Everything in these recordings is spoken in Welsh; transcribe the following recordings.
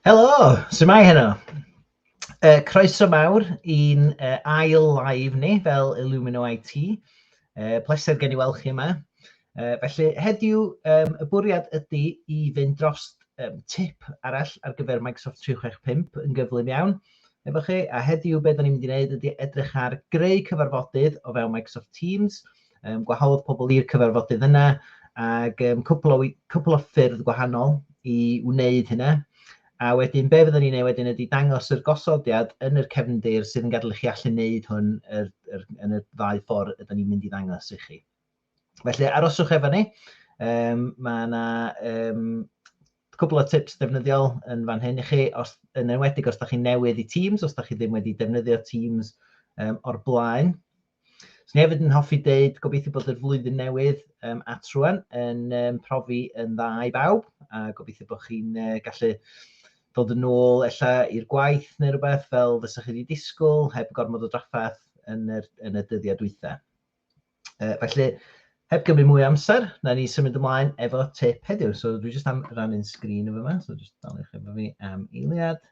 Helo, symai heno? Uh, croeso mawr i'n uh, ail live ni fel Illumino IT. Uh, pleser gen i weld chi yma. Uh, felly heddiw, um, y bwriad ydy i fynd dros um, tip arall ar gyfer Microsoft 365 yn gyflym iawn. efo chi, a heddiw be da ni'n mynd i wneud ydy edrych ar greu cyfarfodydd o fewn Microsoft Teams, um, gwahodd pobl i'r cyfarfodydd yna, ac um, cwpl, o, cwpl o ffyrdd gwahanol i wneud hynna. A wedyn, be fyddwn ni'n ei wedyn ydy dangos yr gosodiad yn yr cefndir sydd yn gadael i chi allu wneud hwn yr, yr, yn y ddau ffordd ydym ni'n mynd i ddangos i chi. Felly aroswch efo ni. Um, mae yna um, cwbl o tips defnyddiol yn fan hyn i chi, os, yn enwedig os da chi newydd i Teams, os da chi ddim wedi defnyddio Teams um, o'r blaen. So ni hefyd yn hoffi deud, gobeithio bod yr flwyddyn newydd um, at rwan yn um, profi yn dda i bawb, a gobeithio bod chi'n uh, gallu dod yn ôl ella i'r gwaith neu rhywbeth fel fysa chi wedi disgwyl, heb gormod o draffaeth yn, yr, yn y dyddiau dwytha. Uh, felly, heb gymryd mwy amser, na ni symud ymlaen efo tip heddiw. So dwi jyst am rannu'n sgrin efo yma, so jyst dal eich efo fi am eiliad.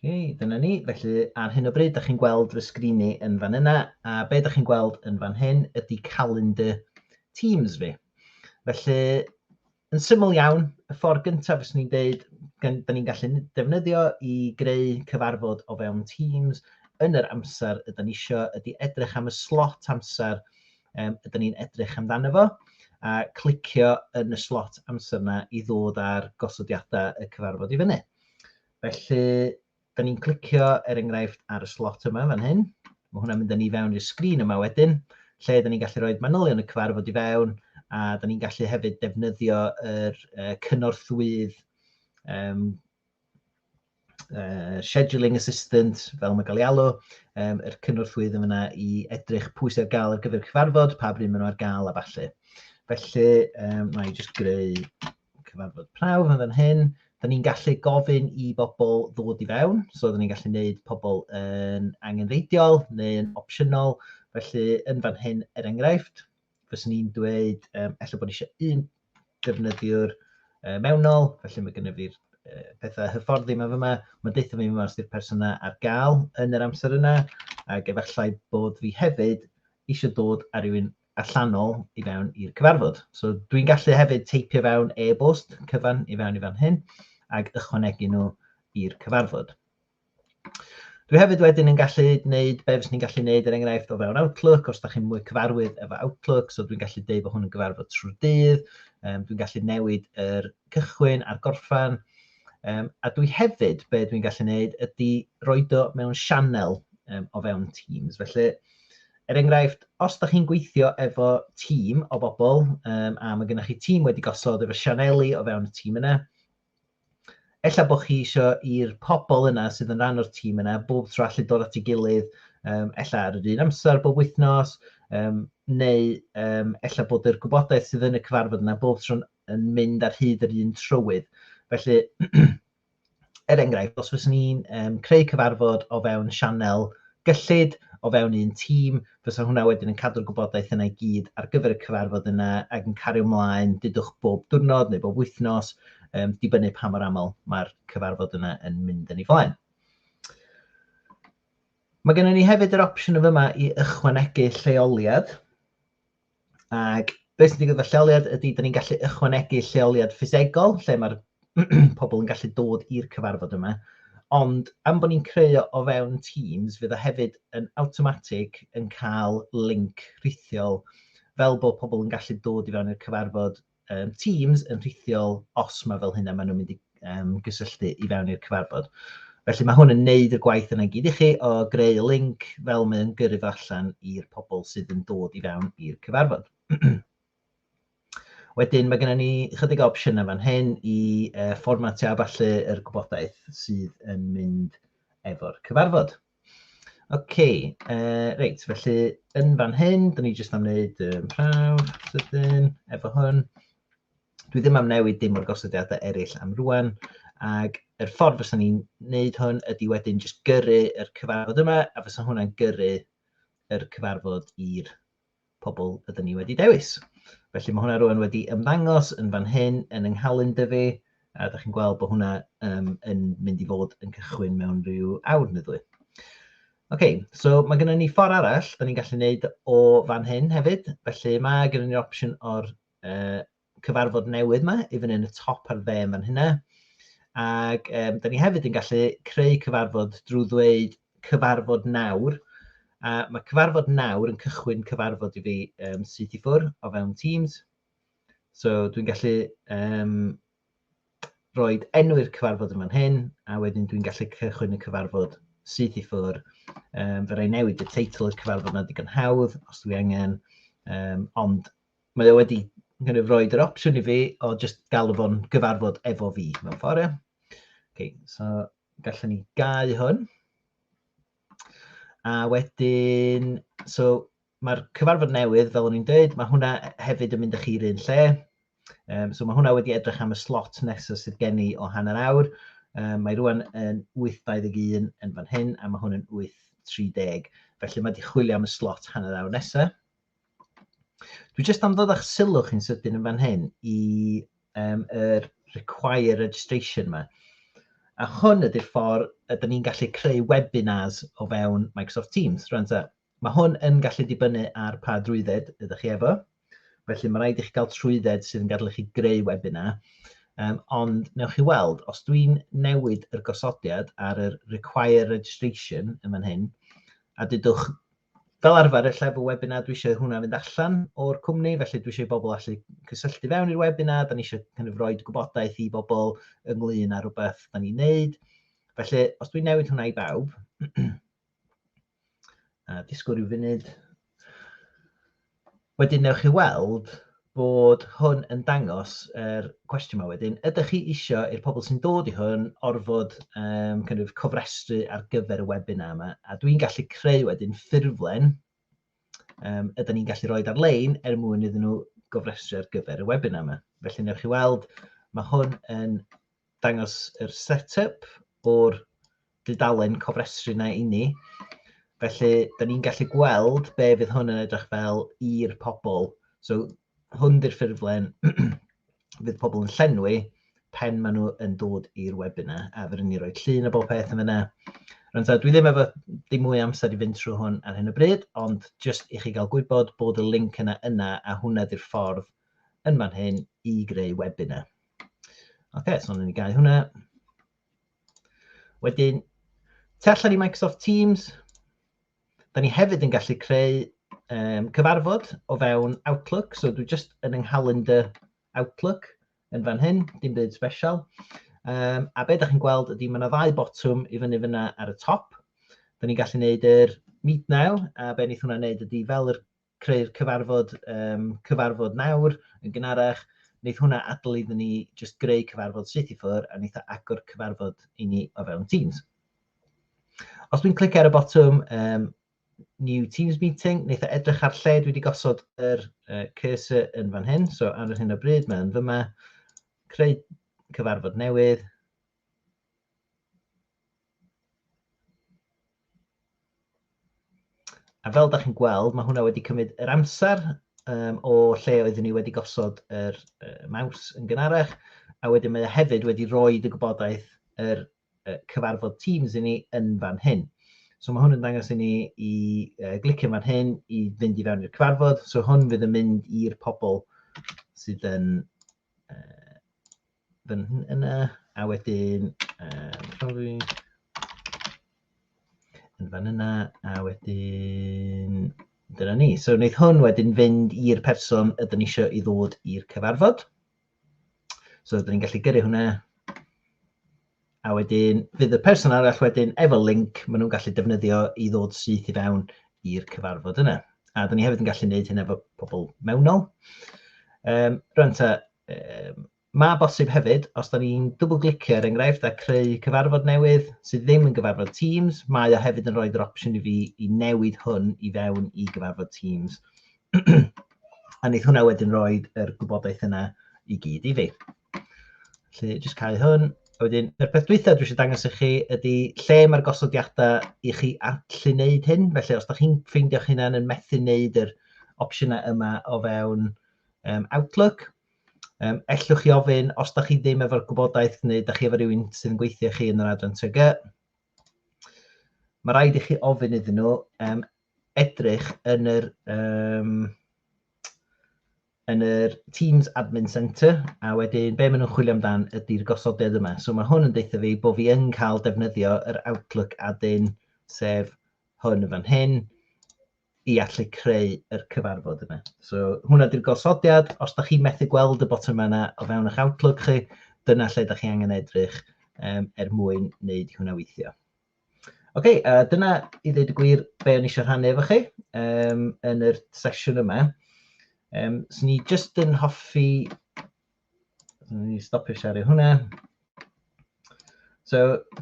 okay, dyna ni. Felly, ar hyn o bryd, da chi'n gweld fy sgrin i yn fan yna, a be da chi'n gweld yn fan hyn ydy calendar Teams fi. Felly, Yn syml iawn, y ffordd gyntaf fyswn i'n dweud, da ni'n gallu defnyddio i greu cyfarfod o fewn Teams yn yr amser ydyn ni eisiau, ydy edrych am y slot amser um, ydyn ni'n edrych amdano fo, a clicio yn y slot amser yna i ddod ar gosodiadau y cyfarfod i fyny. Felly, Da ni'n clicio er enghraifft ar y slot yma fan hyn. Mae hwnna'n mynd â ni fewn i'r sgrin yma wedyn, lle da ni'n gallu rhoi manylion y cyfarfod i fewn, a da ni'n gallu hefyd defnyddio yr uh, cynorthwydd um, uh, scheduling assistant, fel mae gael ei alw, um, yr cynorthwydd yn fyna i edrych pwy sydd ar gael ar gyfer cyfarfod, pa bryd maen nhw ar gael a falle. Felly, um, mae jyst greu cyfarfod prawf yn fan hyn. Da ni'n gallu gofyn i bobl ddod i fewn, so da ni'n gallu gwneud pobl yn angenreidiol neu'n opsiynol. Felly, yn fan hyn, er enghraifft, fyswn i'n dweud, um, efallai bod eisiau un defnyddiwr uh, mewnol, felly mae gennym ni'r uh, pethau hyfforddi yma fyma, mae'n deitha fi yma os ydy'r person yna ar gael yn yr amser yna, ac efallai bod fi hefyd eisiau dod ar rywun allanol i fewn i'r cyfarfod. So dwi'n gallu hefyd teipio fewn e-bost cyfan i fewn i fan hyn ac ychwanegu nhw i'r cyfarfod. Dwi hefyd wedyn yn gallu gwneud be fes ni'n gallu gwneud er enghraifft o fewn Outlook, os da chi'n mwy cyfarwydd efo Outlook, so dwi'n gallu dweud bod hwn yn gyfarfod trwy dydd, um, dwi'n gallu newid yr cychwyn a'r gorffan, um, a dwi hefyd, be dwi'n gallu gwneud, ydy roed o mewn sianel um, o fewn Teams. Felly, Er enghraifft, os da chi'n gweithio efo tîm o bobl, um, a mae gennych chi tîm wedi gosod efo sianeli o fewn y tîm yna, Ella bod chi eisiau i'r pobl yna sydd yn rhan o'r tîm yna bob tro allu dod at ei gilydd, um, ella ar yr un amser bob wythnos, um, neu um, ella bod yr gwybodaeth sydd yn y cyfarfod yna bob tro yn mynd ar hyd yr un trywydd. Felly, er enghraifft, os fyswn i'n um, creu cyfarfod o fewn sianel gyllid, o fewn un tîm, fysa hwnna wedyn yn cadw'r gwybodaeth yna i gyd ar gyfer y cyfarfod yna ac yn cario ymlaen dydwch bob diwrnod neu bob wythnos, um, dibynnu pa mor aml mae'r cyfarfod yna yn mynd yn ei flaen. Mae gennym ni hefyd yr opsiwn yma i ychwanegu lleoliad. Ac beth sy'n digwydd efo lleoliad ydy, da ni'n gallu ychwanegu lleoliad ffisegol, lle mae'r pobl yn gallu dod i'r cyfarfod yma. Ond am bod ni'n creu o fewn Teams, fydd o hefyd yn awtomatig yn cael link rhithiol fel bod pobl yn gallu dod i fewn i'r cyfarfod um, Teams yn rhithiol os mae fel hynna maen nhw'n mynd i um, gysylltu i fewn i'r cyfarfod. Felly mae hwn yn neud y gwaith yna gyd i chi o greu link fel mae yn gyrru fo allan i'r pobl sydd yn dod i fewn i'r cyfarfod. Wedyn mae gennym ni chydig o opsiynau fan hyn i uh, fformatio a falle yr gwybodaeth sydd yn mynd efo'r cyfarfod. OK, uh, reit, felly yn fan hyn, dyn ni jyst am wneud um, prawf, sydyn, efo hwn. Dwi ddim am newid dim o'r gosodiadau eraill am rwan, ac yr ffordd fysa ni'n wneud hwn ydy wedyn jyst gyrru yr cyfarfod yma, a fysa hwnna'n gyrru yr cyfarfod i'r pobl ydyn ni wedi dewis. Felly mae hwnna rwan wedi ymddangos yn fan hyn yn yng nghalyn dyfu, a da chi'n gweld bod hwnna um, yn mynd i fod yn cychwyn mewn rhyw awr neu ddwy. OK, so mae gennym ni ffordd arall, da ni'n gallu gwneud o fan hyn hefyd, felly mae gennym ni'r opsiwn o'r uh, cyfarfod newydd yma i fyny yn y top ar dde yn fan hynna. Ac um, da ni hefyd yn gallu creu cyfarfod drwy ddweud cyfarfod nawr. A mae cyfarfod nawr yn cychwyn cyfarfod i fi um, syth i ffwr o fewn Teams. So dwi'n gallu um, roi enw'r cyfarfod yn fan hyn, a wedyn dwi'n gallu cychwyn y cyfarfod syth i ffwr. Um, fe rai newid y teitl i'r cyfarfod na digon hawdd, os dwi angen, um, ond mae o wedi kind of roed yr opsiwn i fi o jyst galw fo'n gyfarfod efo fi mewn ffordd, ie. Okay, so gallwn ni gau hwn. A wedyn, so mae'r cyfarfod newydd, fel o'n i'n dweud, mae hwnna hefyd yn mynd â chi'r un lle. Um, so mae hwnna wedi edrych am y slot nesaf sydd gen i o hanner awr. Um, mae rwan yn 8.21 yn fan hyn, a mae hwn yn 8.30. Felly mae wedi chwilio am y slot hanner awr nesaf. Dwi jyst am ddod â'ch sylw chi'n sydyn yn fan hyn i um, er require registration yma. A hwn ydy'r ffordd ydym ni'n gallu creu webinars o fewn Microsoft Teams. Rwan ta, mae hwn yn gallu dibynnu ar pa drwydded ydych chi efo. Felly mae rhaid i chi gael trwydded sydd yn gadael i chi greu webinar. Um, ond newch chi weld, os dwi'n newid yr gosodiad ar yr require registration yn fan hyn, a dydwch Fel arfer, ella efo webinar dwi eisiau hwnna fynd allan o'r cwmni, felly dwi eisiau i bobl allu cysylltu fewn i'r webinar, da ni eisiau kind of roed gwybodaeth i bobl ynglyn â rhywbeth da ni'n neud. Felly, os dwi'n newid hwnna i bawb, a disgwyl rhyw funud, Wedyn newch chi weld bod hwn yn dangos yr cwestiwn yma wedyn. Ydych chi isio i'r pobl sy'n dod i hwn orfod um, kind of, cofrestru ar gyfer y webinar yma? A dwi'n gallu creu wedyn ffurflen um, ydyn ni'n gallu rhoi ar-lein er mwyn iddyn nhw gofrestru ar gyfer y webinar yma. Felly newch chi weld, mae hwn yn dangos yr set-up o'r dudalen cofrestru na i ni. Felly, da ni'n gallu gweld be fydd hwn yn edrych fel i'r pobl. So, hwn di'r ffurflen fydd pobl yn llenwi pen maen nhw yn dod i'r webinar a fyrwn ni roi llun a bob peth yn fyna. Rwy'n dweud, dwi ddim efo dim mwy amser i fynd trwy hwn ar hyn o bryd, ond jyst i chi gael gwybod bod y link yna yna a hwnna di'r ffordd yn fan hyn i greu webinar. Ok, so ni'n gael hwnna. Wedyn, tu allan i Microsoft Teams, da ni hefyd yn gallu creu um, cyfarfod o fewn Outlook, so dwi just yn yng nghalendr Outlook yn fan hyn, dim byd special. Um, a be da chi'n gweld ydy mae yna ddau botwm i fyny fyna ar y top. Da ni'n gallu gwneud yr meet now, a be wnaeth hwnna wneud ydy fel yr creu'r cyfarfod, um, cyfarfod nawr yn gynharach, wneud hwnna adl iddyn ni just greu cyfarfod syth i ffwr a wneud agor cyfarfod i ni o fewn Teams. Os dwi'n clic ar y botwm um, New Teams Meeting, wneud edrych ar lle dwi wedi gosod yr uh, cursor yn fan hyn, so ar yr hyn o bryd mae'n fyma, creu cyfarfod newydd, A fel da chi'n gweld, mae hwnna wedi cymryd yr amser um, o lle oeddwn ni wedi gosod yr uh, maws yn gynharach, a wedyn mae e hefyd wedi rhoi y gwybodaeth yr uh, cyfarfod Teams i ni yn fan hyn. So mae hwn yn dangos i ni i uh, glicio fan hyn i fynd i fewn i'r cyfarfod. So hwn fydd yn mynd i'r pobl sydd yn uh, fan yna, a wedyn um, profi yn fan yna, a wedyn dyna ni. So wneud hwn wedyn fynd i'r person ydyn ni eisiau i ddod i'r cyfarfod. So ydyn ni'n gallu gyrru hwnna A wedyn, fydd y person arall wedyn efo link maen nhw'n gallu defnyddio i ddod syth i fewn i'r cyfarfod yna. A dyn ni hefyd yn gallu gwneud hyn efo pobl mewnol. Um, rwan ta, um, mae bosib hefyd, os da ni'n dwbl glicio er enghraifft a creu cyfarfod newydd sydd ddim yn gyfarfod Teams, mae o hefyd yn rhoi'r opsiwn i fi i newid hwn i fewn i gyfarfod Teams. a wneud hwnna wedyn roed yr gwybodaeth yna i gyd i fi. Felly, jyst cael hwn. A wedyn, y peth dwytha dwi eisiau dangos i chi ydy lle mae'r gosodiadau i chi allu wneud hyn. Felly, os da chi'n ffeindio'ch hunan yn methu wneud yr opsiynau yma o fewn um, Outlook, um, ellwch chi ofyn os da chi ddim efo'r gwybodaeth neu da chi efo rhywun sy'n gweithio chi yn yr adran TG. Mae rhaid i chi ofyn iddyn nhw um, edrych yn yr um, yn yr Teams Admin Centre, a wedyn be maen nhw'n chwilio amdan ydy'r gosodiad yma. So mae hwn yn deutha fi bod fi yn cael defnyddio yr Outlook adyn, sef hwn yn fan hyn, i allu creu yr cyfarfod yma. So hwnna ydy'r gosodiad, os da chi methu gweld y botwm yna o fewn eich Outlook chi, dyna lle da chi angen edrych um, er mwyn wneud hwnna weithio. Oce, okay, uh, dyna i ddweud y gwir be o'n eisiau rhannu efo chi um, yn yr sesiwn yma. Um, so ni jyst yn hoffi... Ni stopio siarad hwnna. So,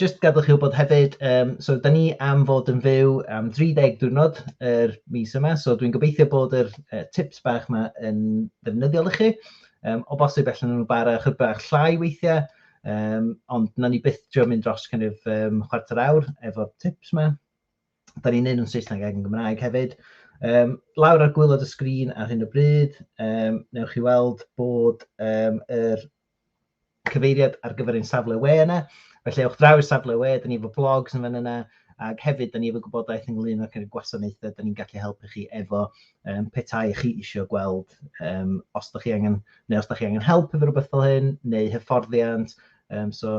jyst gadwch chi wybod hefyd, um, so da ni am fod yn fyw am 30 diwrnod yr er mis yma, so dwi'n gobeithio bod yr uh, tips bach yma yn ddefnyddiol i chi. Um, o bosib allan nhw'n bara chydig bach llai weithiau, Um, ond na ni byth trio mynd dros kind of, um, chwarter awr efo tips ma. Da ni'n neud nhw'n Saesneg ac yn Gymraeg hefyd. Um, lawr ar gwylod y sgrin ar hyn o bryd, um, newch chi weld bod um, yr cyfeiriad ar gyfer ein safle we yna. Felly ewch draw i'r safle we, da ni efo blogs yn fan yna, ac hefyd da ni efo gwybodaeth ynglyn â'r cynnig gwasanaethau da ni'n gallu helpu chi efo um, petai chi eisiau gweld um, os da chi angen Neu os da chi angen help efo rhywbeth fel hyn, neu hyfforddiant, um, so,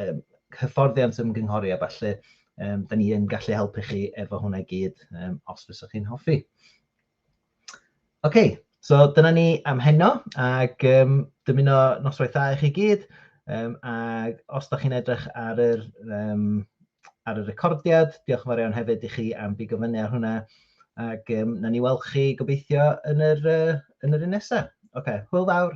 um, hyfforddiant ymgynghori a falle, um, da ni yn gallu helpu chi efo hwnna i gyd, um, os fysa chi'n hoffi. OK, so dyna ni am heno, ac um, dymuno noswaith dda i chi gyd, um, ac os da chi'n edrych ar yr um, ar y recordiad. Diolch yn fawr iawn hefyd i chi am bigo fyny ar hwnna. Ac um, na ni weld chi gobeithio yn yr, uh, yn yr un nesaf. Oce, okay, hwyl fawr.